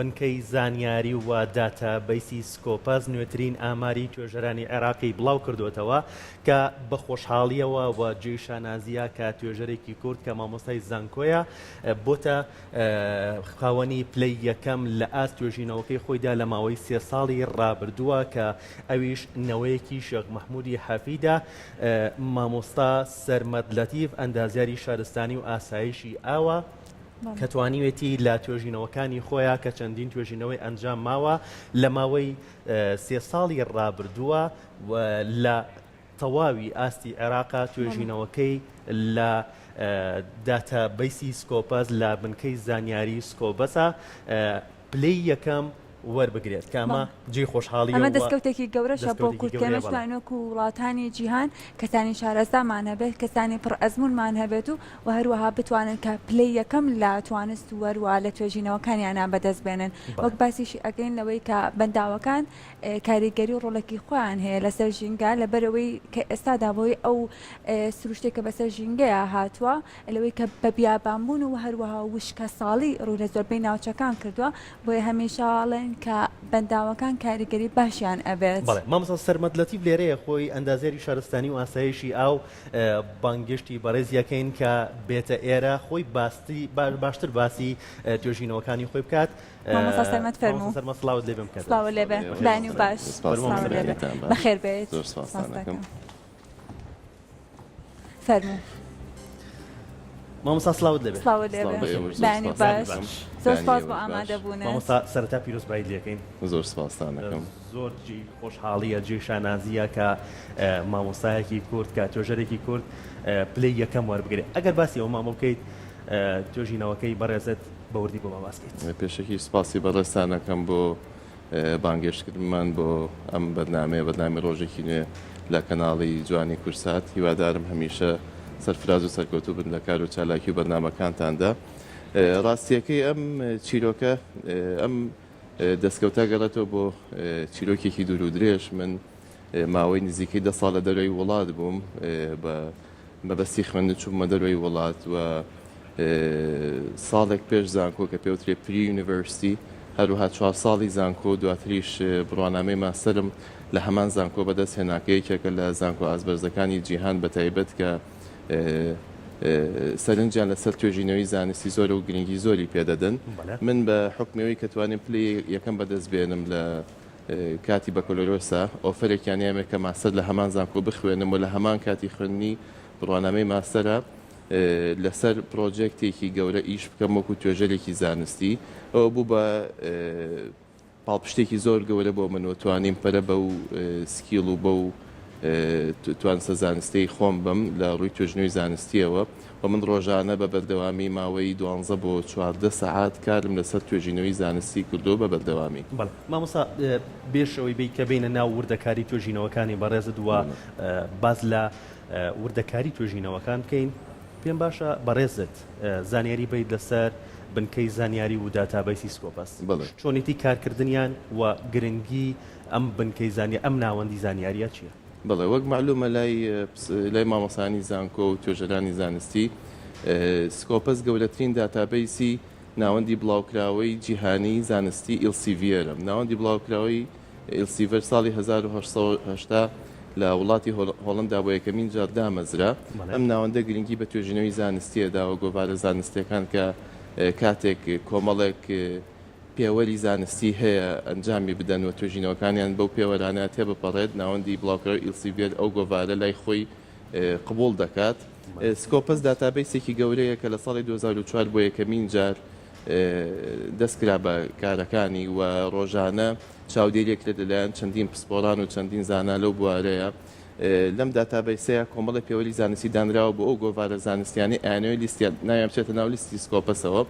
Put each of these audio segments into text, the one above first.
بنکەی زانیاری و داتا بەیسی سکۆپاس نوێترین ئاماری توێژەرانی عێراقی بڵاوکردووەتەوە کە بە خۆشحاڵییەوە و جێی شانازییە کە توێژەرێکی کورد کە مامۆستای زانکۆیە بۆتە خاوەنی پلەی یەکەم لە ئاست توێژینەوەکەی خۆیدا لە ماوەی سێ ساڵی ڕابردووە کە ئەویش نەوەیەکی شێخ مەحمودی حەفیدە مامۆستا سەرمەد لەتیف ئەندازیاری شارستانی و ئاسایشی ئاوە کە توانیوێتی لە توێژینەوەکانی خۆیان کە چەندین توێژینەوەی ئەنجام ماوە لە ماوەی سێ ساڵی ڕابردووە لە تەواوی ئاستی عێراقا توێژینەوەکەی لە داتا بیسی سکۆپەس لە بنکەی زانیاری سکۆبەسە پلەی یەکەم وەربگرێت کە ئەمە جێی خۆشحاڵیە ئەمە دەستکەوتێکی گەورەشە بۆ کورد کە ئێمە توانین وەکو وڵاتانی جیهان کەسانی شارەزامان هەبێت کەسانی پڕ ئەزموونمان هەبێت و و هەروەها بتوانن کە پلەی یەکەم لە توانست و هەروە لە توێژینەوەکانیانە بەدەست بێنن وەک باسیشی ئەگەین لەوەی کە بەنداوەکان کاریگەری و ڕۆڵێکی خۆیان هەیە لەسەر ژینگە لەبەرەوەی کە ئێستادا بۆی ئەو سروشتێک کە بەسەر ژینگەیە هاتووە لەوەی کە بە بیابان بوون و هەروەها وشکە ساڵی ڕووی لە زۆربەی ناوچەکان کردووە بۆیە هەمیشە ئەڵێن کە بەنداوەکان کاریگەری باشیان ئەبێت. بەڵێ مامۆستا سەرمەد لەتیف لێرەیە خۆی ئەندازیاری شارستانی و ئاسایشی ئاو بانگێشتی بەڕێزی ئەکەین کە بێتە ئێرە خۆی باستی باشتر باسی توێژینەوەکانی خۆی بکات مامۆستا سەرمەد فەرموو مامۆستا سەرمەد سڵاوت لێ بێم کە سڵاوو لێبێ بەخێربێیت زۆر سوپاستان ئەکەم. فەرموو. مامۆستا سلاوت لەبێ سپاس بۆ ئامادەبوون مامۆستا سەرتا پیرۆزبایی لەکەین زۆر سپاستانەکەم زۆر جێی خۆشحاڵیە جێی شانازیە کە مامۆستایەکی کورد کە توێژەرێکی کورد پلی یەکەم وەربگرێت ئەگەر باسی ئەو مامۆ بکەیت توێژینەوەکەی بەڕێزت بەوردی بۆ باباسکەیت پێشەکی سپاسی بەڕێستانەکەم بۆ بانگێشتکردنمان بۆ ئەم بەرنامەیە بەرنامی ڕۆژێکی نوێ لە کەناڵی جوانی کورسات هیوادارم هەمیشە سەرفراز و سەرکەوتوو بن لە کار و چالاکی و بەرنامەکانتاندا ڕاستیەکەی ئەم چیرۆکە ئەم دەستکەوتە گەڕێتەوە بۆ چیرۆکێکی دوور و درێژ من ماوەی نزیکەی دە ساڵ لە دەرەوەی وڵات بووم بە مەبەستی خوێندن چوومە دەرەوەی وڵات و ساڵێک پێش زانکۆ کە پێوترێ پری یونیڤرستی هەروها چوار ساڵی زانکۆ و دواتریش بڕوانامەی ماستەرم لە هەمان زانکۆ بەدەست هێناکە یەکێکە لە زانکۆ ئازبەرزەکانی جیهان بە تایبەت کە سەرنجیان لەسەر توێژینەوەی زانستی زۆرە و گرنگی زۆری پێدەدەن من بە حکمەوەی کە توانێن پلی یەکەم بەدەست بێنم لە کاتی بەکەلۆرۆسە ئۆفەرێکیان هەیە کە ماستەر لە هەمان زانکۆ بخوێنم و لە هەمان کاتی خوێندنی بڕوانامەی ماستەرە لەسەر پڕۆجێکتێکی گەورە ئیش بکەم وەکو توێژەرێکی زانستی ئەوە بوو بە پاڵپشتێکی زۆر گەورە بۆ من و توانیم پەرە بە و سکیڵ و بە و توانسە زانستی خۆم بم لە ڕووی توێژنەوەی زانستیەوە و من ڕۆژانە بە بەردەوامی ماوەی دوانزە بۆ چواردە سەعات کارم لەسەر توێژینەوەی زانستی کردووە بە بەردەوامی. بەڵێ مامۆستا بێش ئەوەی بێی کە بێینە ناو وردەکاری توێژینەوەکانی بەڕێزت و باس لە وردەکاری توێژینەوەکان بکەین پێم باشە بەڕێزت زانیاری بەیت لەسەر بنکەی زانیاری و داتابەیسی سکۆپەس چۆنێتی کارکردنیان و گرنگی ئەم بنکەی زانیاری ئەم ناوەندی زانیاریە چیە؟ بەڵێ وەک مەعلومە لای مامۆسانی زانکۆ و توێژەرانی زانستی سکۆپەس گەورەترین داتابەیسی ناوەندی بڵاوکراوەی جیهانی زانستی ئیلسیڤێرە ناوەندی بڵاوکراوەی ئیلسیڤەر ساڵی 1970 لە وڵاتی هۆڵندا بۆ یەکەمین جار دامەزرا ئەم ناوەندە گرنگی بە توێژینەوەی زانستیە داوە گۆڤارە زانستیەکان کە کاتێک کۆمەڵێک پێوەری زانستی هەیە ئەنجامی بدەن و توێژینەوەکانیان بەو پێوەرانە تێبپەڕێت، ناوەندی بڵاوکراوی ئیلسیڤێر ئەو گۆڤارە لای خۆی قبوڵ دەکات. سکۆپەس داتابەیسێکی گەورەیە کە لە ساڵی دوو هەزار و چوار بۆ یەکەمین جار دەستکرا بە کارەکانی و ڕۆژانە چاودێرییەکرێت لەلایەن چەندین پسپۆڕان و چەندین زانا لەو بوارەیە لەم داتابەیسەیا کۆمەڵێ پێوەری زانستی دانراوە بۆ ئەو گۆڤارە زانستیانەی ئایەنەوەی لیستیان ناویان بچێتە ناو لیستی سکۆپەسەوە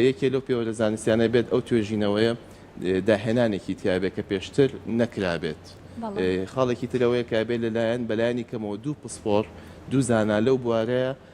یەکێ لەو پێوەرە زانستیانە بێت ئەو توێژینەوەیە داهێنانێکی تیابێت کە پێشتر نەکرابێت خاڵێکی ترەوەیە کابێت لەلایەن بەلایانی کەمەوە دوو پسپۆر دوو زانا لەو بوارەیە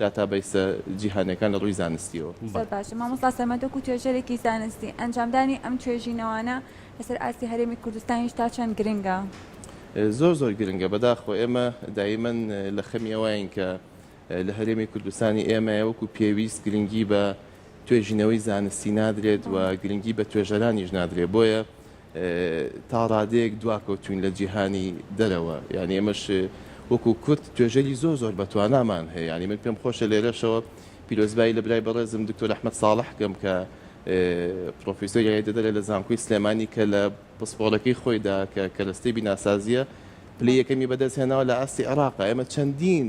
داتابەیسە جیهانیەکان لە ڕووی زانستیەوە. زۆر باشە مامۆستا سەمەد وەکو توێژەرێکی زانستی ئەنجامدانی ئەم توێژینەوانە لەسەر ئاستی هەرێمی کوردستانیش تا چەند گرنگە؟ زۆر زۆر گرنگە بەداخەوە ئێمە دایمەن لە خەمی ئەوەین کە لە هەرێمی کوردستانی ئێمەیە وەکو پێویست گرنگی بە توێژینەوەی زانستی نادرێت و گرنگی بە توێژەرانیش نادرێت بۆیە تا ڕادەیەک دواکەوتوین لە جیهانی دەرەوە یانی ئێمەش وەکو کورد توێژەری زۆر زۆر بەتوانامان هەیە یانی من پێم خۆشە لێرەشەوە پیرۆزبایی لە برای بەڕێزم دکتۆر ئەحمەد ساڵح کەم کە پرۆفیسۆر یای دەدەرە لە زانکۆی سلێمانی کە لە پسپۆرەکەی خۆیدا کە کەرەستەی بیناسازیە پلی یەکەمی بەدەست هێناوە لە ئاستی عێراقا ئێمە چەندین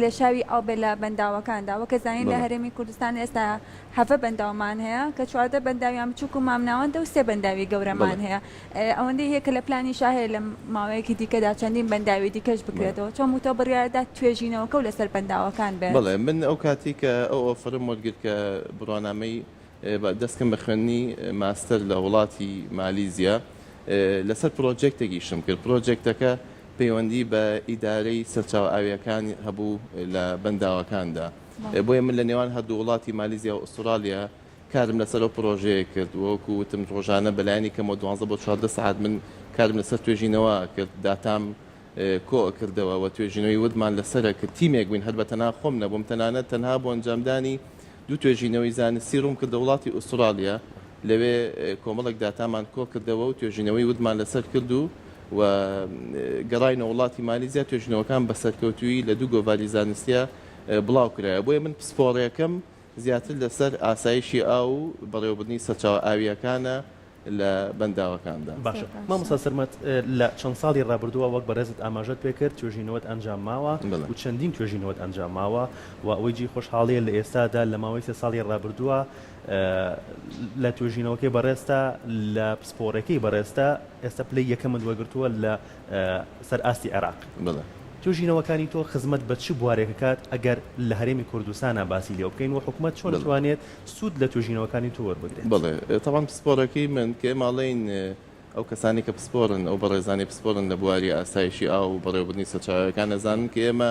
لێشاوی ئاو بێت لە بەنداوەکاندا وەکە زانین لە هەرێمی کوردستان ئێستا هەڤە بەنداومان هەیە کە چواردە بەنداویان بچووک و مامناوەندە و سێ بەنداوی گەورەمان هەیە ئەوەندەی هەیە کە لە پلانی شا هەیە لە ماوەیەکی دیکەدا چەندین بەنداوی دیکەش بکرێتەوە چۆن وتە بڕیاردا توێژینەوەکە و لەسەر بەنداوەکان بێت بڵێ من ئەو کاتی کە ئەو ئۆفەرم وەرگرت کە بڕوانامەی دەستکەم بە خوێندنی ماستەر لە وڵاتی مالیزیا لەسەر پرۆجێکتێکیشم کرد پرۆجێکتەکە پەیوەندی بە ئیدارەی سەرچاوە ئاوییەکان هەبوو لە بەنداوەکاندا، بۆیە من لە نێوان هەردوو وڵاتی مالیزیا و ئوسترالیا کارم لەسەر ئەو پڕۆژەیە کرد، وەکو وتم ڕۆژانە بەلایەنی کەمەوە دوانزە بۆ چواردە سەعات من کارم لەسەر توێژینەوە ئەکرد، داتام کۆ ئەکردەوە و توێژینەوەی وردمان لەسەر ئەکرد، تیمێک بووین هەر بەتەنها خۆم نەبووم، تەنانەت تەنها بۆ ئەنجامدانی دوو توێژینەوەی زانستی ڕووم کردە وڵاتی ئوسترالیا لەوێ کۆمەڵێک داتامان کۆکردەوە و توێژینەوەی وردمان لەسەر کرد و و گەڕاینە وڵاتی مالیزیا توێژینەوەکان بە سەرکەوتوویی لە دوو گۆڤاری زانستییا بڵاو کرایەوە بۆیە من پسپۆڕێکەم زیاتر لەسەر ئاسایشی ئاو و بەڕێوەبردنی سەرچاوە ئاوییەکانە لە بەنداوەکاندا. باشە مامۆستا سەرمەد لە چەند ساڵی ڕابردووە وەک بەڕێزت ئاماژەت پێ کرد توێژینەوەت ئەنجام ماوە و چەندین توێژینەوەت ئەنجام ماوە و ئەوەی جێی خۆشحاڵییە لە ئێستادا لە ماوەی سێ ساڵی ڕابردووە لە توێژینەوەکەی بەڕێزتا لە پسپۆڕێکەی بەڕێزتا ئێستا پلەی یەکەمت وەرگرتووە لە سەر ئاستی عێراق. بەڵێ. توێژینەوەکانی تۆ خزمەت بە چ بوارێک ئەکات ئەگەر لە هەرێمی کوردستانا باسی لێوە بکەین و حکومەت چۆن ئەتوانێت سوود لە توێژینەوەکانی تۆ وەربگرێت؟ بەڵێ. تەبعەن پسپۆڕیەکەی من کە ئێمە ئەڵێین ئەو کەسانەی کە پسپۆڕن، ئەو بەڕێزانەی پسپۆڕن لە بواری ئاسایشی ئاو و بەڕێوەبردنی سەرچاوەکان ئەزانن کە ئێمە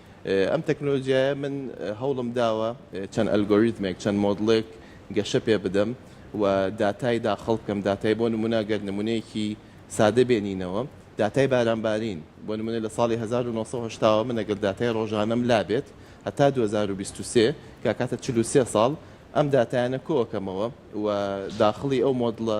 ئەم تەکنۆلۆجیایە من هەوڵم داوە چەند ئەلگۆریتمێک چەند مۆدڵێک گەشە پێ بدەم و داتای داخڵ بکەم داتای بۆ نمونە گەر نمونەیەکی سادە بێنینەوە داتای بارانبارین بۆ نمونە لە ساڵی 1970 من ئەگەر داتای ڕۆژانەم لابێت هەتا 2023 کاکاتە 43 ساڵ ئەم داتایانە کۆکەمەوە و داخڵی ئەو مۆدڵە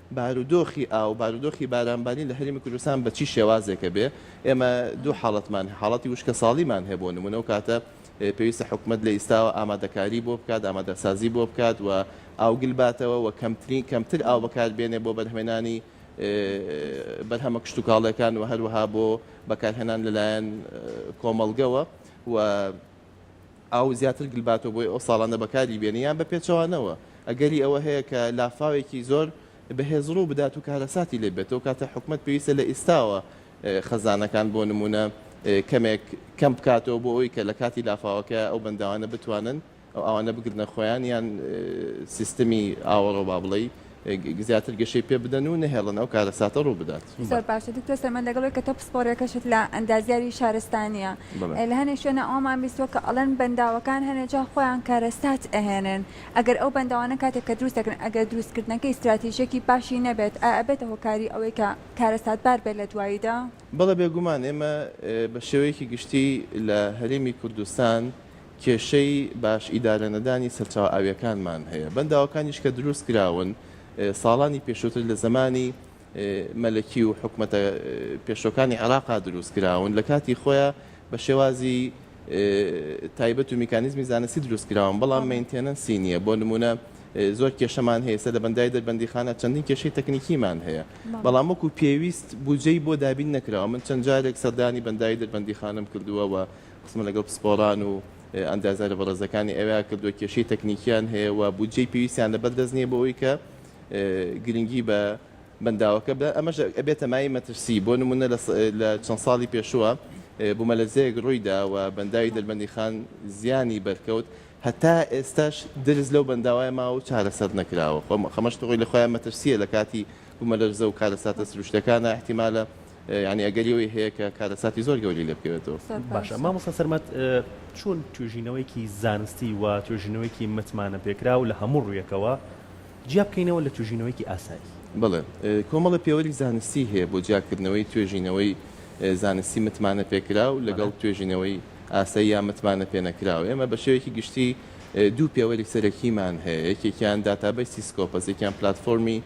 بارودۆخی ئاو، بارودۆخی بارانبارین لە هەرێمی کوردستان بە چی شێوازێکە بێ، ئێمە دوو حاڵەتمان هەیە، حاڵەتی وشکەساڵیمان هەیە بۆ نموونە، ئەو کاتە پێویستە حکومەت لە ئیستاوە ئامادەکاری بۆ بکات، ئامادەسازی بۆ بکات و ئاو گل باتەوە و کەمترین کەمتر ئاو بەکار بێنێ بۆ بەرهەمێنانی بەرهەمە کشتوکاڵیەکان و هەروەها بۆ بەکارهێنان لەلایەن کۆمەڵگەوە و ئاو زیاتر گلباتۆ بۆی ئەو ساڵانە بەکاری بێنی یان بە پێچەوانەوە ئەگەری ئەوە هەیە کە لافاوێکی زۆر بەهێز ڕوو بدات و کارەساتی لێ بێت ئەو کاتە حکومەت پێویستە لە ئیستاوە خەزانەکان بۆ نمونە کەمێک کەم بکاتەوە بۆ ئەوی کە لە کاتی لافاوەکە ئەو بەنداوانە بتوانن ئەو ئاوانە بگرنە خۆیان یان سیستمی ئاوەڕۆ با بڵێ زیاتر گەشەی پێ بدەن و نەهێڵن ئەو کارەساتە ڕوو بدات زۆر باشە دکتۆر سەلمان دەگەڵ ئەوەی کە تۆ پسپۆڕیەکەشت لە ئەندازیاری شارستانیە بەڵێ. لە هەنێ شوێنە ئەوەمان بیستووە کە ئەڵێن بەنداوەکان هەنێ جا خۆیان کارەسات ئەهێنن ئەگەر ئەو بەنداوانە کاتێک کە دروست دەکرێن ئەگەر دروستکردنەکەی ستراتیژیەکی باشی نەبێت ئایا ئەبێتە هۆکاری ئەوەی کە کارەساتبار بێت لە دواییدا؟ بەڵێ بێگومان ئێمە بە شێوەیەکی گشتی لە هەرێمی کوردستان کێشەی باش ئیدارە نەدانی سەرچاوە ئاویەکانمان هەیە بەنداوەکانیش کە دروست کراون ساڵانی پێشوتر لە زەمانی مەلەکی و حکومەتە پێشوەکانی عێراقا دروست کراون لە کاتی خۆیا بە شێوازی تایبەت و میکانیزمی زانستی دروست کراون بەڵام مینتێنەنسی نییە بۆ نمونە زۆر کێشەمان هەیە سە لە بەندای دەربەندیخانە چەندین کێشەی تەکنیکیمان هەیە بەڵام وەکو پێویست بودجەی بۆ دابین نەکراوە من چەند جارێک سەردانی بەندای دەربەندیخانەم کردووە و قسم لەگەڵ پسپۆڕان و ئەندازیارە بەڕێزەکانی ئەوێیا کردووە، کێشەی تەکنیکییان هەیە و بودجەی پێویستیان لەبەر دەست نییە بۆ ئەوەی کە گرنگی بە بەنداوەکە بدەن، ئەمەش ئەبێتە مایەی مەترسی، بۆ نموونە لە چەند ساڵی پێشووە بوومەلەرزەیەک ڕوویدا و بەنداوی دەربەندیخان زیانی بەرکەوت، هەتا ئێستاش درز لەو بەنداوە ماوە و چارەسەر نەکراوە، خەمەش خۆی لە خۆیان مەترسییە لەکاتی بوومەلەرزە و کارەساتە سروشتییەکانا ئیحتیمالە یانی ئەگەری ئەوەی هەیە کە کارەساتی زۆر گەورەی لێ بکەوێتەوە. باشە مامۆستا سەرمەد چۆن توێژینەوەیەکی زانستی و توێژینەوەیەکی متمانەپێکراو لە هەموو ڕوویەکەوە جیا بکەینەوە لە توێژینەوەیەکی ئاسایی؟ بەڵێ کۆمەڵە پێوەری زانستی هەیە بۆ جیاکردنەوەی توێژینەوەی زانستی متمانەپێکراو لەگەڵ توێژینەوەی ئاسایی یا متمانەپێنەکراو. ئێمە بە شێوەیەکی گشتی دوو پێوەری سەرەکیمان هەیە یەکێکیان داتابەیسی سکۆپەس یەکیان پلاتفۆرمی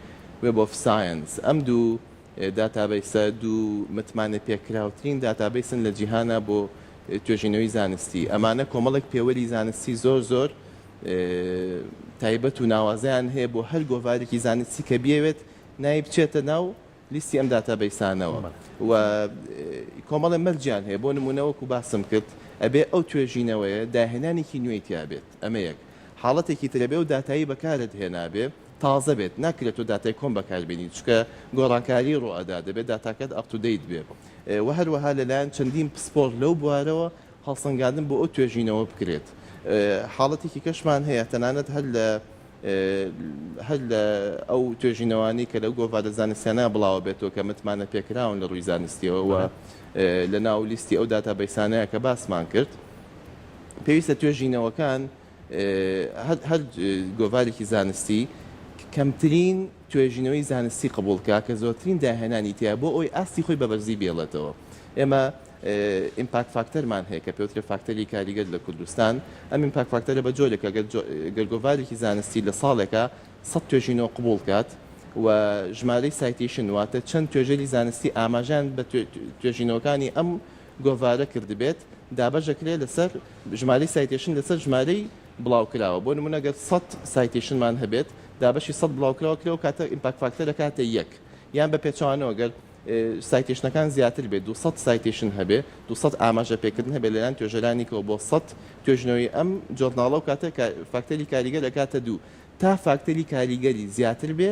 وێب ئۆف ساینس ئەم دوو داتابەیسە دوو متمانەپێکراوترین داتابەیسن لە جیهانا بۆ توێژینەوەی زانستی، ئەمانە کۆمەڵێک پێوەری زانستی زۆر زۆر تایبەت و ناوازەیان هەیە بۆ هەر گۆڤارێکی زانستی کە بیەوێت ناوی بچێتە ناو لیستی ئەم داتابەیسانەوە و کۆمەڵێ مەرجیان هەیە بۆ نموونە وەکو باسم کرد ئەبێ ئەو توێژینەوەیە داهێنانێکی نوێی تیابێت ئەمە یەک حاڵەتێکی ترەبێ و داتایی بەکارت هێنابێ تازە بێت ناکرێت تۆ داتای کۆن بەکاربێنیت چونکە گۆڕانکاری ڕوئەدات دەبێت داتاکەت ئەپ تو دەیت بێت وە هەروەها لەلایەن چەندین پسپۆر لەو بوارەوە هەڵسەنگاندن بۆ ئەو توێژینەوە بکرێت حاڵەتێکی کەشمان هەیە تەنانەت هەر لە هەر لە ئەو توێژینەوانی کە لەو گۆڤارە زانستیانە بڵاوە بێتەوە کە متمانە پێکراون لە ڕووی زانستیەوە وە لە ناو لیستی ئەو داتا بەیسانەیە کە باسمان کرد پێویستە توێژینەوەکان هەر گۆڤارێکی زانستی کەمترین توێژینەوەی زانستی قبول کا کە زۆرترین داهێنانی تیا بۆ ئەوی ئاستی خۆی بە بەرزی بێڵێتەوە ئێمە ئیمپاک فاکتەرمان هەیە کە پێوترە فاکتەری کاریگەر لە کوردستان ئەم ئیمپاک فاکتەرە بە جۆرێکە گەرگۆڤارێکی زانستی لە ساڵێکە سە توێژینەوە قبول کات و ژمارەی سایتیشن واتە چەند توێژەری زانستی ئاماژان بە توێژینەوەکانی ئەم گۆڤارە کردبێت دابەشدەکرێت لەسەر ژمارەی سایتێشن لەسەر ژمارەی بڵاوکراوە بۆ نمونە گەر سەد سایتێشنمان هەبێت دابەشی سەد بڵاوکراوە کرێ و کاتە ئیمپاک فاکتە دەکاتە یەک یان بە پێچوانەوە گەر سایتێشنەکان زیاتر بێت 200 سایتێشن هەبێ 200 ئاماژە پێکردن هەبێ لەلایەن توێژەرانیکەوە بۆ 100 توێژنەوەی ئەم جۆرناڵە و کاتە فاکتەری کاریگەر دەکاتە دوو تا فاکتەری کاریگەری زیاتر بێ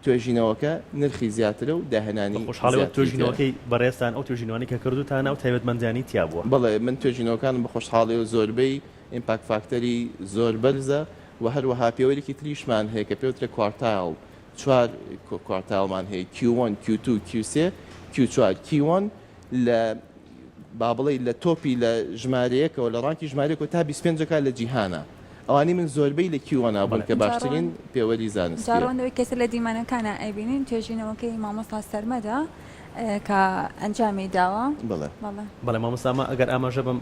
توێژینەوەکە نرخی زیاترە و داهێنانی زیاتری تێدایە. بە خۆشحاڵیەوە توێژینەوەکەی بەڕێزتان، ئەو توێژینەوانەی کە کردووتانە ئەو تایبەتمەندیانەی تیا بووە. بەڵێ، من توێژینەوەکانم بە خۆشحاڵیەوە زۆربەی ئیمپاکت فاکتەری زۆر بەرزە و هەروەها پێوەرێکی تریشمان هەیە کە پێوترە کوارتایڵ، چوار کوارتایڵمان هەیە، کیو وەن، کیو توو، کیو سێ، کیو چوار، کی وەن، لە با بڵێی لە تۆپی لە ژمارەیەکەوە لە ڕانکی ژمارەکەوە تا 25 جەکە لە جیهانە ئەوانی من زۆربەی لە کیوەنا بوون کە باشترین پێوەری زانستیە. جاڕەوەندەوەی کەسە لە دیمەنەکانە ئەیبینین توێژینەوەکەی مامۆستا سەرمەدە کە ئەنجامی داوە بڵێ بەڵێ بەڵێ مامۆستامە ئەگەر ئاماژە بم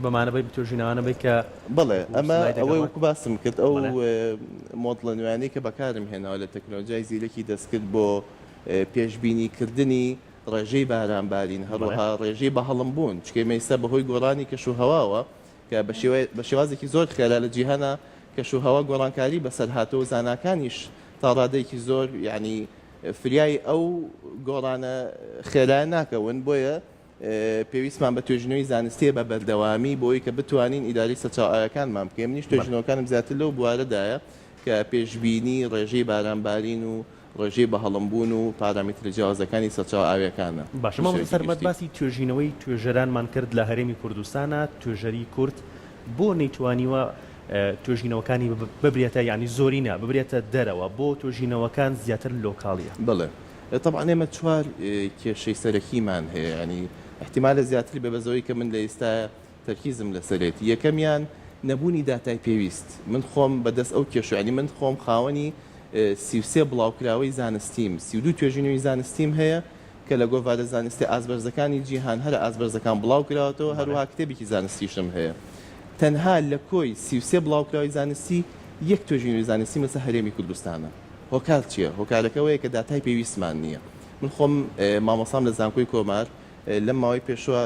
بەمانەبەی بتۆژینەوانە بی کە بڵێ ئەمە ئەوەی وەکو باسم کرد ئەو مۆدڵە نوێنەی کە بەکارم هێناوە لە تەکنۆلۆژای زیرەکی دەستکرد بۆ پێشببینی کردنی ڕێژەی بارانبارین هەروەها ڕێژەی بەهەڵمبوون چکەی مەیسە بەهۆی گۆڕانی کەشوهەواوە کە بە شێوازێکی زۆر خێرا لە جیهانا کەشوهەوا گۆڕانکاری بەسەر هاتووە و زاناکانیش تا ڕادەیەکی زۆر یەعنی فریای ئەو گۆڕانە خێرایە ناکەون بۆیە پێویستمان بە توێژینەوەی زانستییە بە بەردەوامی بۆ ئەوی کە بتوانین ئیدارەی سەرچاوە ئاوییەکانمان بکەین منیش توێژینەوەکانم زیاتر لەو بوارەدایە کە پێشبینی ڕێژەی بارانبارین و ڕێژەی بەهەڵم بوون و پارامێترە جیاوازەکانی سەرچاوە ئاوییەکانە. باشە مامۆستا سەرمەد باسی توێژینەوەی توێژەرانمان کرد لە هەرێمی کوردستانا توێژەری کورد بۆ نەیتوانیوە توێژینەوەکانی ببرێتە یانی زۆرینە ببرێتە دەرەوە بۆ توێژینەوەکان زیاتر لۆکاڵیە؟ بەڵێ تەبعەن ئێمە چوار کێشەی سەرەکیمان هەیە یانی ئیحتیمالە زیاتر بێ بەس ئەوەی کە من لە ئیستا تەرکیزم لەسەرێتی یەکەمیان نەبوونی داتای پێویست من خۆم بەدەست ئەو کێشە یانی من خۆم خاوەنی سی و سێ بڵاوکراوەی زانستیم سی و دوو توێژینەوی زانستیم هەیە کە لە گۆڤارە زانستە ئازبەرزەکانی جیهان هەرە ئازبەرزەکان بڵاوکراوەتەوە هەروەها کتێبێکی زانستیشم هەیە تەنها لە کۆی سی و سێ بڵاوکراوەی زانستی یەک توێژینەوی زانستیم لەسەر هەرێمی کوردستانە هۆکار چیە هۆکارەکە ئەوەیە کە داتای پێویستمان نیە من خۆم مامۆستام لە زانکۆی کۆمار لەم ماوەی پێشوە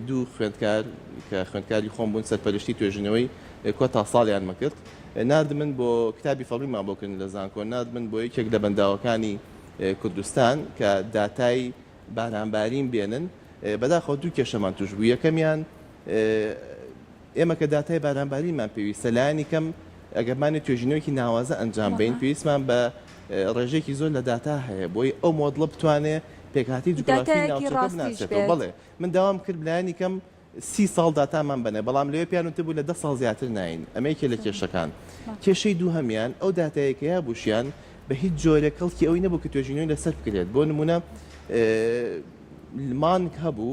دوو خوێندکار کە خوێندکاری خۆم بوون سەرپەرشتی توێژینەوەی کۆتا ساڵیانمە کرد ناردمن بۆ کتابی فەڕیمان بۆ کردن لە زانکۆ ناردمن بۆ یەکێک لە بەنداوەکانی کوردستان کە داتای بارانبارین بێنن بەداخەوە دوو کێشەمان توش بوو یەکەمیان ئێمە کە داتای بارانبارینمان پێویستە، لایەنی کەم ئەگەر بمانەوێت توێژینەوەیەکی ناوازە ئەنجام بەین، پێویستمان بە ڕێژەیەکی زۆر لە داتا هەیە بۆی ئەو مۆدڵە بتوانێت پێکهاتەی جوگرافی ناوچەکە بناسێتەوە. بەڵێ، من داوام کرد لایەنی کەم سی ساڵ داتامان بەنێ، بەڵام لەوێ پێیان وتبوو لە دە ساڵ زیاتر ناین، ئەمە یەکێک لە کێشەکان. کێشەی دووهەمیان ئەو داتایەی کە یابووشیان بە هیچ جۆرێک کەڵکی ئەوەی نەبوو کە توێژینەوەی لەسەر بکرێت، بۆ نموونە مانگ هەبوو،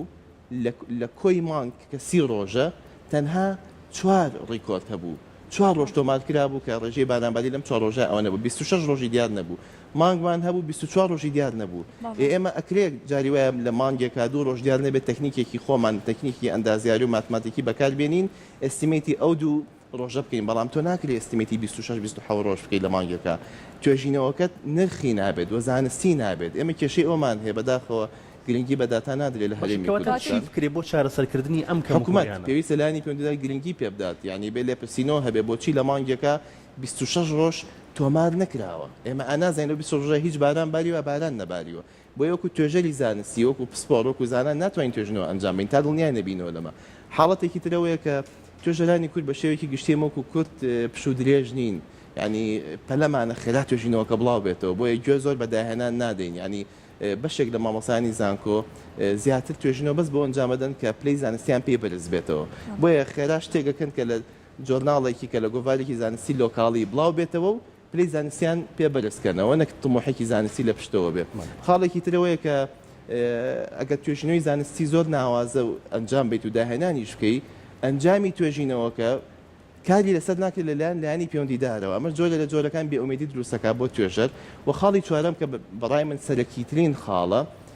لە کۆی مانگ کە سی ڕۆژە، تەنها چوار ڕیکۆرد هەبوو، چوار ڕۆژ تۆمار کرابوو کە ڕێژەی بارانباری لەم چوار ڕۆژە ئەوەنە بوو، بیست و شەش ڕۆژی دیار نەبوو، مانگمان هەبوو بیست و چوار ڕۆژی دیار نەبوو، ئێ ئێمە ئەکرێ جاری وایە لە مانگێکا دوو ڕۆژ دیار نەبێت تەکنیکێکی خۆمان، تەکنیکی ئەندازیاری و ماتماتیکی بەکار بێنین ئێستیمەیتی ئەو دوو ڕۆژە بکەین بەڵام تۆ ناکری ئێستیمەیتی بیست و شەش بیست و حەوت ڕۆژ بکەی لە مانگێکا توێژینەوەکەت نرخی نابێت وە زانستی نابێت ئێمە کێشەی ئەوەمان هەیە بەداخەوە گرنگی بە داتا نادرێت لە هەرێمی کوردستان. باشە کەواتە چی بکرێت بۆ چارەسەر کردنی ئەم کەم و کوڕیانە؟ حکومەت پێویستە لایەنی پەیوەندیدار گرنگی پێ بدات یانی بێ لێپرسینەوە هەبێت بۆچی لە مانگێکا بیست و شەش ڕۆژ تۆمار نەکراوە ئێمە ئانازانین لەو بیست و شەش ڕۆژە هیچ باران باریوە باران نەباریوە بۆیە وەکو توێژەری زانستی، وەکو پسپۆڕ، وەکو زانا ناتوانین توێژینەوە ئەنجام بەین تا دڵنیا نەبینەوە لەمە. حاڵەتێکی تر ئەوەیە کە توێژەرانی کورد بە شێوەیەکی گشتی ئێمە وەکو کورد پشوو درێژ نین یانی پەلەمانە خێرا توێژینەوەکە بڵاو بێتەوە بۆیە گوێ زۆر بە داهێنان نادەین یانی بەشێک لە مامۆستایانی زانکۆ زیاتر توێژینەوە بەس بۆ ئەنجام ئەدەن کە پلەی زانستیان پێی بەرز بێتەوە بۆیە خێرا شتێک ئەکەن کە لە جۆرناڵێکی کە لە گۆڤارێکی زانستی لۆکاڵی بڵاو بێتەوە و پلەی زانستیان پێ بەرز کەنەوە نەک تموحێکی زانستی لە پشتەوە بێ خاڵێکی تر ئەوەیە کە ئەگەر توێژینەوەی زانستی زۆر ناوازە و ئەنجام بیت و داهێنانیش بکەی ئەنجامی توێژینەوەکە کاری لەسەر ناکرێت لە لایەن لایەنی پێوەندیدارەوە ئەمەش جۆرە لە جۆرەکان بێئومێدی دروست دەکات بۆ توێژەر وە خاڵی چوارەم کە بەڕای من سەرەکیترین خاڵە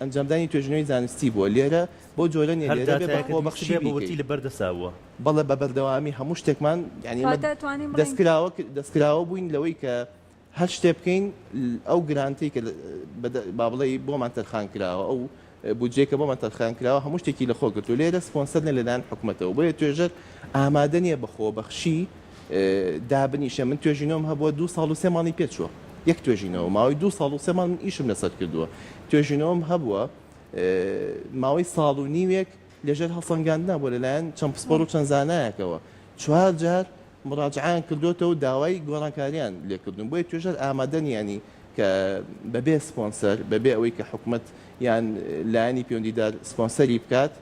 ئەنجامدانی توێژینەوەی زانستی بووە لێرە بەو جۆرە نیە هەر لێرە بێ داتایەکت بەخۆ ویستبێ بەخشی بە ورتی بیکەی. لەبەر دەسا بووە. بەڵێ بە بەردەوامی هەموو شتێکمان یانی ئێمە کاتە توانیم بڵێین. دەستکراوە دەستکراوە بووین لەوەی کە هەر شتێ بکەین ئەو گرانتەی کە بە با بڵێی بۆمان تەرخان کراوە ئەو بودجەی کە بۆمان تەرخان کراوە هەموو شتێکی لەخۆ گرتووە لێرە سپۆنسەر نیە لەلایەن حکومەتەوە بۆیە توێژەر ئامادە نیە بە خۆبەخشی دابنیشێ من توێژینەوەم هەبووە دوو ساڵ و سێ مانگی پێ چووە یەک توێژینەوە ماوەی دوو ساڵ و سێ مانگ من ئیشم لەسەر کردووە توێژینەوەم هەبووە ماوەی ساڵ و نیوێک لەژێر هەڵسەنگاندنا بۆ لەلایەن چەند پسپۆر و چەند زانایەکەوە چوار جار مراجعان کردوێتەوە داوای گۆڕانکاریان لێکردن بۆیە توێژەر ئامادە نیانی کە بەبێ سپۆنسەر بەبێ ئەوەی کە حکومت یان لایەنی پەیوەندیدار سپۆنسەری بکات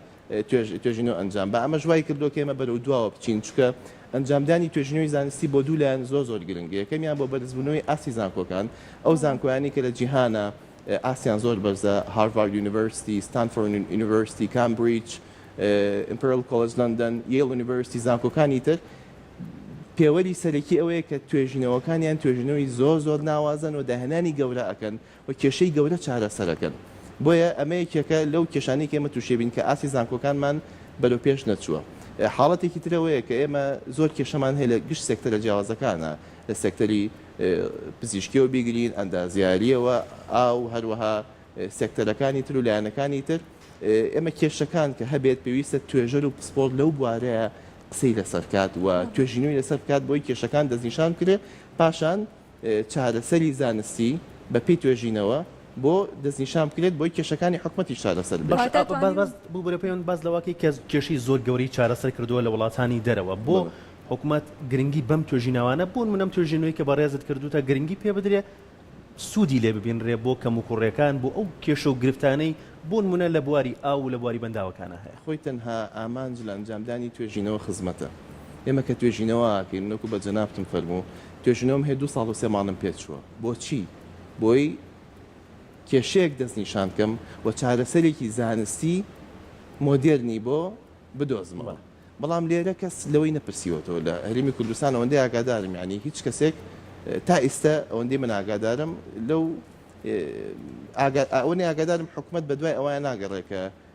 توێژینەوە ئەنجام با، ئەمەش وایکردووە کە ئێمە بەرەو دواوە بچین، چونکە ئەنجامدانی توێژینەوەی زانستی بۆ دوو لایەن زۆر زۆر گرنگە، یەکەمیان بۆ بەرزبوونەوەی ئاستی زانکۆکان، ئەو زانکۆیانەی کە لە جیهانا ئاستیان زۆر بەرزە، هارڤارد یونیڤەرسیتی، ستانفۆرد یونیڤەرسیتی، کامبریج، ئیمپریال کۆلێج لەندەن، یەیڵ یونیڤەرسیتی، زانکۆکانی تر پێوەری سەرەکی ئەوەیە کە توێژینەوەکانیان توێژینەوەی زۆر زۆر ناوازەن و داهێنانی گەورە ئەکەن، و کێشەی گەورە چارەسەرەکەن. بۆیە ئەمە یەکێکە لەو کێشانەی کە ئێمە تووشیبین کە ئاستی زانکۆکانمان بەرەو پێش نەچووە. حاڵەتێکی تر ئەوەیە کە ئێمە زۆر کێشەمان هەیە لە گشت سێکتەرە جیاوازەکانا، لە سێکتەری پزیشکییەوە بیگرین، ئەندازیارییەوە، ئاو، هەروەها سێکتەرەکانی تر و لایەنەکانی تر. ئێمە کێشەکان کە هەبێت پێویستە توێژەر و پسپۆڕ لەو بوارەیە قسەی لەسەر کات و توێژینەوەی لەسەر بکات بۆی کێشەکان دەستنیشان بکرێت، پاشان چارەسەری زانستی بە پێی توێژینەوە بۆ دەستنیشان بکرێت بۆی کێشەکانی حکومەتیش چارەسەر بێت. واتە توانیون. ببورە پێوەند باس لەوەکەی کە کێشەی زۆر گەورەی چارەسەر کردووە لە وڵاتانی دەرەوە بۆ حکومەت گرنگی بەم توێژیناوانە بۆ نمونە ئەم توێژینەوەی کە بەڕێزت کردووتە گرنگی پێ بدرێ سوودی لێ ببینرێ بۆ کەموکوڕیەکان بۆ ئەو کێشە و گرفتانەی بۆ نمونە لە بواری ئاو و لە بواری بەنداوەکانا هەیە. خۆی تەنها ئامانج لە ئەنجامدانی توێژینەوە خزمەتە ئێمە کە توێژینەوە ئاکەین من وەکو بە جەنابتم فەرموو توێژینەوەم هەیە دوو ساڵ و سێ مانگم پێ چووە بۆچی بۆی کێشەیەک دەست نیشان بکەم و چارەسەرێکی زانستی مۆدێرنی بۆ بدۆزمەوە بەڵام لێرە کەس لەوەی نەپرسیوەتەوە لە هەرێمی کوردستان ئەوەندەی ئاگادارم یانی هیچ کەسێک تا ئیستە ئەوەندەی من ئاگادارم لەو ئاگا ئەوەنی ئاگادارم حکومەت بەدوای ئەوەیان ناگەڕێ کە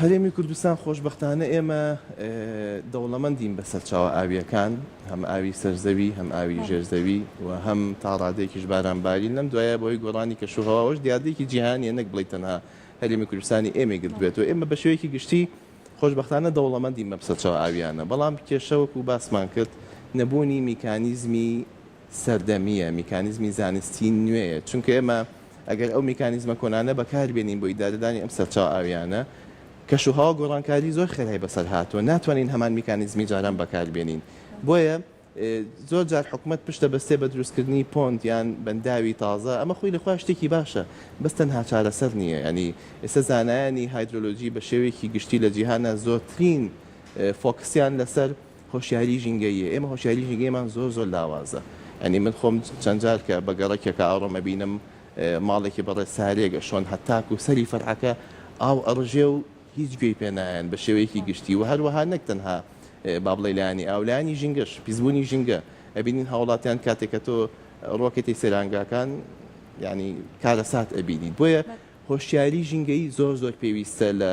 هەرێمی کوردستان خۆشبەختانە ئێمە دەوڵەمەندین بە سەرچاوە ئاوییەکان، هەم ئاوی سەرزەوی، هەم ئاوی ژێرزەوی و هەم تا ڕادەیەکیش بارانبارین، لەم دوایە بەهۆی گۆڕانی کەشوهەواوەش دیاردەیەکی جیهانییە نەک بڵێی تەنها هەرێمی کوردستانی ئێمەی گرتبێتەوە، ئێمە بە شێوەیەکی گشتی خۆشبەختانە دەوڵەمەندین بەم سەرچاوە ئاوییانە، بەڵام کێشە وەکو باسمان کرد نەبوونی میکانیزمی سەردەمییە، میکانیزمی زانستی نوێیە، چونکە ئێمە ئەگەر ئەو میکانیزمە کۆنانە بەکار بێنین بۆ ئیدارەدانی ئەم سەرچاوە ئاوییانە، کەشوهەوا گۆڕانکاری زۆر خێرای بەسەر هاتووە، ناتوانین هەمان میکانیزمی جاران بەکار بێنین، بۆیە زۆر جار حکومەت پشت دەبەستێت بە دروستکردنی پۆند یان بەنداوی تازە، ئەمە خۆی لەخۆیان شتێکی باشە، بەس تەنها چارەسەر نییە، یانی ئێستا زانایانی هایدرۆلۆجی بە شێوەیەکی گشتی لە جیهانا زۆرترین فۆکسیان لەسەر هۆشیاری ژینگەییە ئێمە هۆشیاری ژینگەیمان زۆر زۆر لاوازە یانی من خۆم چەند جار کە بە گەڕەکێکا ئەڕۆم ئەبینم ماڵێکی بەڕێ سارێک ئەشۆن هەتاکو سەری فەرعەکە ئاو ئەڕژێ و هیچ گوێی پێ نایەن بە شێوەیەکی گشتی و هەروەها نەک تەنها با بڵێ لایەنی ئاو لایەنی ژینگەش پیسبوونی ژینگە ئەبینین هاوڵاتیان کاتێک کە تۆ ڕۆکێتی سەیرانگاکان یعنی کارەسات ئەبینیت بۆیە هۆشیاری ژینگەیی زۆر زۆر پێویستە لە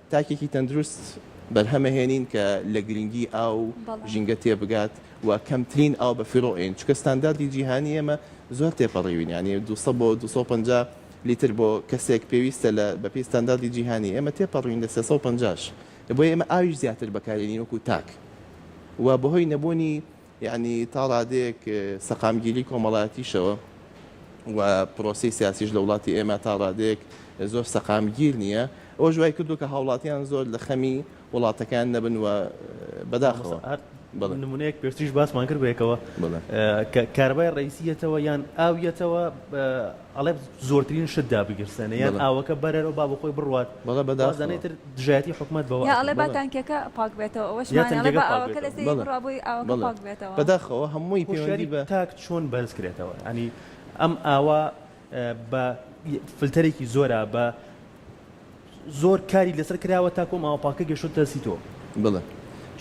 تاکێکی تەندروست بەرهەمە هێنین کە لە گرنگی ئاو و ژینگە تێبگات و کەمترین ئاو بە فیڕۆ ئەین چونکە ستانداردی جیهانی ئێمە زۆر تێپەڕیوین یانی دوو سەد بۆ دوو سەد و پەنجا لیتر بۆ کەسێک پێویستە لە بە پێی ستانداردی جیهانی ئێمە تێپەڕیوین لە سێ سەد و پەنجا ش بۆیە ئێمە ئاویش زیاتر بەکارێنین وەکو تاک و بەهۆی نەبوونی یانی تا ڕادەیەک سەقامگیری کۆمەڵاتیشەوە و پرۆسی سیاسیش لە وڵاتی ئێمە تا ڕادەیەک زۆر سەقامگیر نییە ئەوە ژوای کردو کە هاوڵاتیان زۆر لە خەمی وڵاتەکان نەبن و بەداخەوە نمونەیەک پێشتریش باسمان کرد بەیەکەوە کارەبای ڕئیسیەتەوە یان ئاویەتەوە ئەڵێ زۆرترین شت دابگیرسێنە یان ئاوەکە بەرەرەوە با بەخۆی بڕوات وازانەی تر دژایەتی حکومەت بەوە ئەکەن. یا ئەڵێ با تانکیەکە پاک بێتەوە ئەوەشمان ئەڵێ با ئاوەکە لە سێیەی بڕا بۆی ئاوەکە پاک بێتەوە. بەداخەوە هەمووی پەیوەندی بە. تاک چۆن بەرز کرێتەوە یانی ئەم ئاوە بە فلتەرێکی زۆرە بە. زۆر کاری لەسەر کراوە تاکو ئەم ئاوە پاکە گەشتۆتە دەستی تۆ بڵێ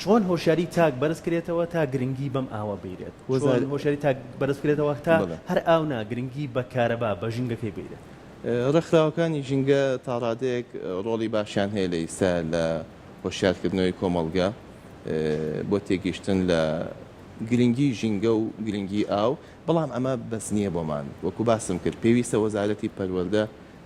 چۆن هۆشیاری تاک بەرز کرێتەوە تا گرنگی بەم ئاوە بەیرێت چۆن هۆشیاری تاک بەرز کرێتەوە تا هەر ئاو نا گرنگی بە کارەبا بە ژینگەکەی بەیرێت. ڕێکخراوەکانی ژینگە تاڕادەیەک ڕۆڵی باشیان هەیە لە ئیستا لە هۆشیار کردنەوەی کۆمەڵگە بۆ تێگیشتن لە گرنگی ژینگە و گرنگی ئاو بەڵام ئەمە بەس نیە بۆمان وەکو باسم کرد پێویستە وەزارەتی پەروەردە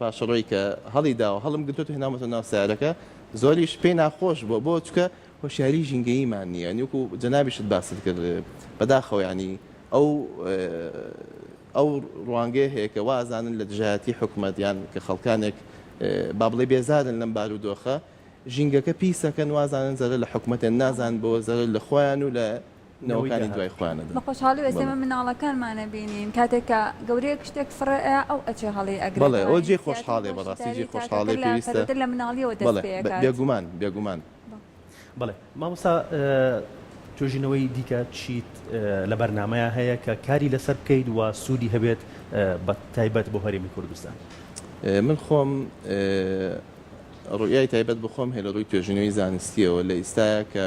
پاشەڕۆی کە هەڵی داوە هەڵم گرتۆتو هێناومەتەوە ناو سەیارەکە زۆریش پێی ناخۆش بوە بۆ چکە هۆشیاری ژینگەییمان نیە یانی وەکو جەنابیشت باست کرد بەداخەوە یانی ئەو ئەو ڕوانگەیە هەیە کە وا ئەزانن لە دژایەتی حکومەت یان کە خەڵکانێک با بڵێ بێزارن لەم بارودۆخە ژینگەکە پیسەکەن وازانن زەرە لە حکومەتێن نازان بۆ زەرە لە خۆیان و لە نەوەکانی دوای خۆیانە دەن. بەخۆشحاڵی وە ئێمە مناڵەکانمان ئەبینین کاتێک کە گەورەیەک شتێک فڕێ ئەیا ئەو ئەچێ هەڵی ئەگرێ بەڵێ ئەوە جێی خۆشحاڵیە بەڕاستی جێی خۆشحاڵیە پێویستە کەرەکە لە مناڵیەوە دەست پێ ئەکات بەڵێ بێگومان بێگومان. بەڵێ مامۆستا توێژینەوەی دیکە چیت لە بەرنامەیا هەیە کە کاری لەسەر بکەیت وە سوودی هەبێت بە تایبەت بۆ هەرێمی کوردستان؟ من خۆم ڕوئیای تایبەت بە خۆم هەیە لە ڕووی توێژینەوەی زانستیەوە لە ئیستایا کە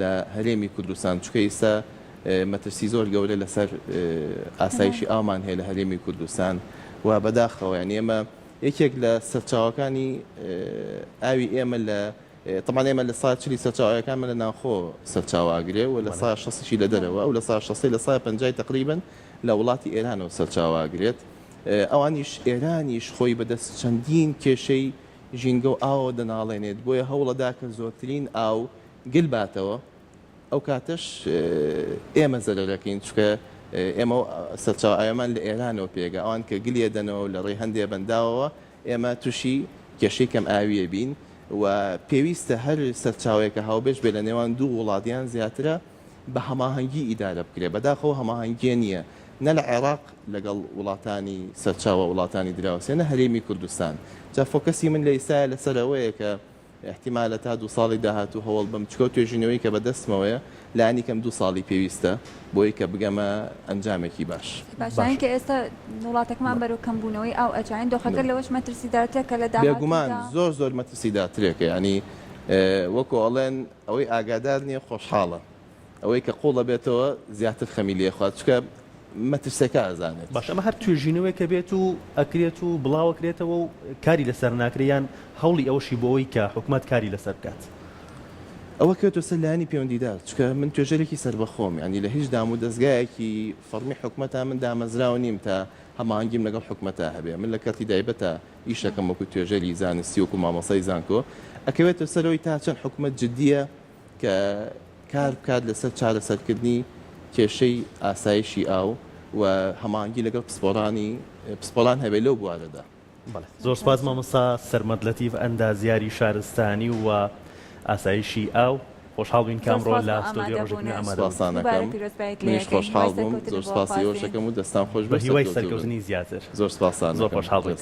لە هەرێمی کوردستان چونکە ئیستا مەترسی زۆر گەورە لەسەر ئاسایشی ئاومان هەیە لە هەرێمی کوردستان و بەداخەوە یان ئێمە یەکێک لە سەرچاوەکانی ئاوی ئێمە لە طبعا ئێمە لە سا چلی سەرچاوەکان من لە ناوخۆ سەرچاواگرێ و لە سا شەسیی لە دەرەوە ئەو لە سا شەسی لە سای پنجای تقریبن لە وڵاتی ئێرانەوە سەرچاواگرێت ئەوانیش ئێرانیش خۆی بەدەست چەندین کێشەی ژینگە و ئاوە دەناڵێنێت بۆیە هەوڵەدا کە زۆرترین ئاو گل باتەوە ئەو کاتەش ئێمە زەرەرەکەین چونکە ئێمە سەرچاوە ئاوێمان لە ئێرانەوە پێگە ئەوان کە گلی ئەدەنەوە و لە ڕێی هەندێ بەنداوەوە ئێمە توشی کێشەی کەم ئاویە بین و پێویستە هەر سەرچاوەیەکە هاوبەش بێ لە نێوان دوو وڵات یان زیاترە بە هەماهەنگی ئیدارە بکرێ بەداخەوە هەماهەنگیە نییە نە لە عێراق لەگەڵ وڵاتانی سەرچاوە وڵاتانی دراوسێ نە هەرێمی کوردستان جا فۆکەسی من لە ئیسایە لەسەر ئەوەیە کە ئیحتیمالە تا دوو ساڵی داهاتوو هەوڵ بەم چکە و توێژینەوەی کە بەدەستمەوەیە لانی کەم دوو ساڵی پێویستە بۆی کە بگەمە ئەنجامێکی باش. باشترین کە ئێستا وڵاتەکەمان بەرەو کەمبوونەوەی ئاو ئەجاین دۆخەکە لەوەش مەترسیدارترە کە لە داهاتوودا. بێگومان زۆر زۆر مەترسیداترێکە یانی وەکو ئەڵێن ئەوەی ئاگادار نیە خۆشحاڵە ئەوەی کە قوڵ ئەبێتەوە زیاتر خەمی لێ ئەخوات چونکە مەترسیەکە ئەزانێت. باشە ئەمە هەر توێژینەوەیەک ئەبێت و ئەکرێت و بڵاو ئەکرێتەوە و کاری لەسەر ناکرێ یان هەوڵی ئەوەشی بۆ ئەوەی کە حکومەت کاری لەسەر بکات؟ ئەوە کەوتە سەر لایەنی پێوەندیدار چونکە من توێژەرێکی سەربەخۆم یانی لە هیچ دام و دەزگایەکی فەڕمی حکومەتا من دامەزراو نیم تا هەماهەنگیم لەگەڵ حکومەتا هەبێ من لە کەرتی دایبەتا ئیش ئەکەم وەکو توێژەری زانستی وەکو مامۆسای زانکۆ ئەکەوێتە سەرەوەی تا چەند حکومەت جدیە کە کار بکات لەسەر چارەسەرکردنی کێشەی ئاسایشی ئاو و هەماهەنگی لەگەڵ پسپۆڕانی پسپۆڕان هەبێت لەو بوارەدا. زۆر سوپاس مامۆستا سەرمەد لەتیف ئەندازیاری شارستانی و ئاسایشی ئاو، خۆشحاڵ بووین کە ئەمڕۆ لە ستۆدیۆی ڕۆژێک نوێ ئامادە بوویت. زۆر سوپاستان ئەکەم، منیش خۆشحاڵ بووم، زۆر سوپاسی ئێوەش ئەکەم و دەستان خۆش بێت، سەرکەوتووبن. بەهیوای سەرکەوتنی زیاتر. زۆر سوپاستان ئەکەم. زۆر خۆشحاڵ بووین.